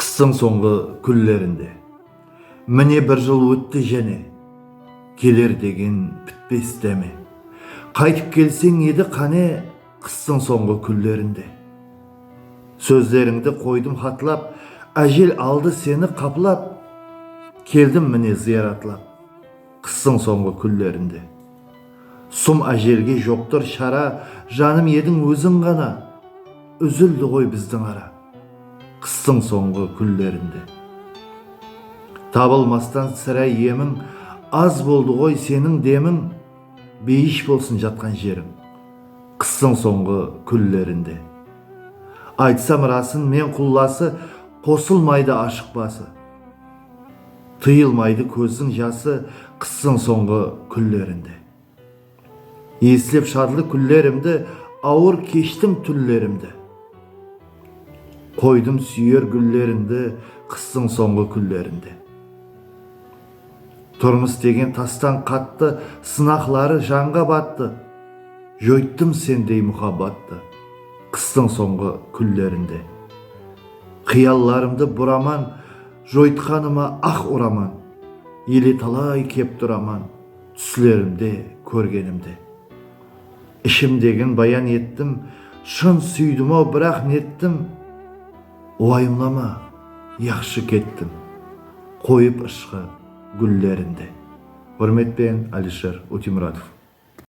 Qıstıń sońǵı kúnlerinde, Mine bir jıl ótti jáne, Keler degen pitpes dáme. Qaytıp kelseń edi qáne, Qıstıń sońǵı kúnlerinde. Sózlerińdi qoydım xatlap, Ájel aldı seni qaplap, Keldim mine zıyaratlap. Qıstıń sońǵı kúnlerinde. Sum ájelge joqtır shara Janım ediń óziń ǵana Úzildi ǵoy bizdiń ara Qıstıń sońǵı kúnlerinde. Tabılmastan sirá emiń Az boldı ǵoy seniń demiń Beyish bolsın jatqan jeriń Qıstıń sońǵı kúnlerinde. Aytsam rasın men qullası Qosılmaydı ashıq bası. Tıyılmaydı kózdiń jası Qıstıń sońǵı kúnlerinde. Eslep shadlı kúnlerimdi Awır keshtim túnlerimdi. Qoydım súyer gúllerińdi Qıstıń sońǵı kúnlerinde. Turmıs degen tastan qattı Sınaqları janǵa battı. Joyttım sendey muhabbattı Qıstıń sońǵı kúnlerinde. Qıyallarımdı buraman, Joytqanıma aq uraman, Ele talay kep turaman, Túslerimde kórgenimdi. Ishimdegin bayan ettim, Shın súydim-aw, biraq nettim, Uwayımlama, yaqshı kettim, Qoyıp ıshqı gúllerimdi. Húrmetpen Alisher Utimuratov.